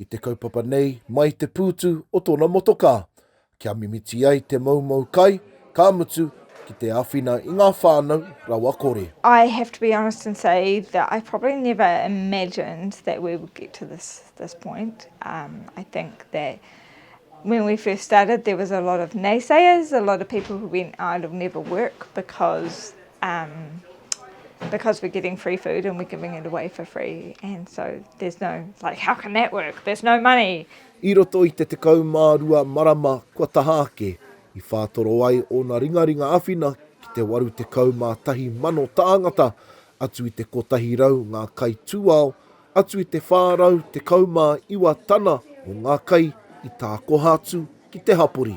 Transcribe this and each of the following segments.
I te kaupapa nei, mai te pūtu o tōna motokā, kia mimiti ai te moumou kai, ka mutu, ki te āwhina i ngā whānau rawakore. I have to be honest and say that I probably never imagined that we would get to this this point. Um, I think that when we first started there was a lot of naysayers, a lot of people who went, oh, it'll never work because Um, because we're getting free food and we're giving it away for free. And so there's no, like, how can that work? There's no money. I roto i te tekau mā rua marama kua taha ake, i whātoro ai ōna ringaringa awhina ki te waru tekau mā tahi mano tāngata, atu i te kotahi rau ngā kai tūao, atu i te whā rau tekau mā iwa tana o ngā kai i tākoha atu ki te hapori.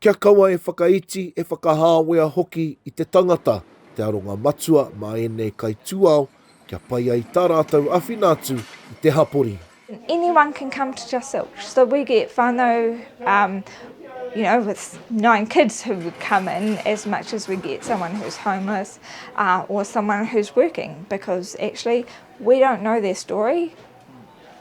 Kia kaua e whakaiti, e whakahāwea hoki i te tangata te aronga matua mā ēnei kaitūao kia pai ai tā rātou awhina atu i te hapori. Anyone can come to Just Zilch, so we get whānau um, you know, with nine kids who would come in as much as we get someone who's homeless uh, or someone who's working because actually we don't know their story.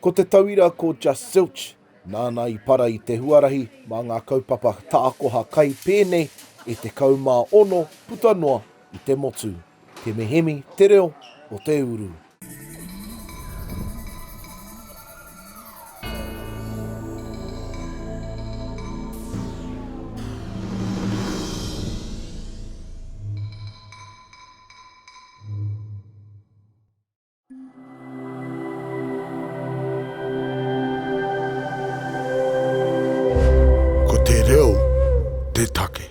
Ko te tauira ko Just Zilch, nāna i para i te huarahi mā ngā kaupapa tākoha kai pēnei e 16 puta noa i te motu. Te mehemi te reo o te uru. Ko te reo te take.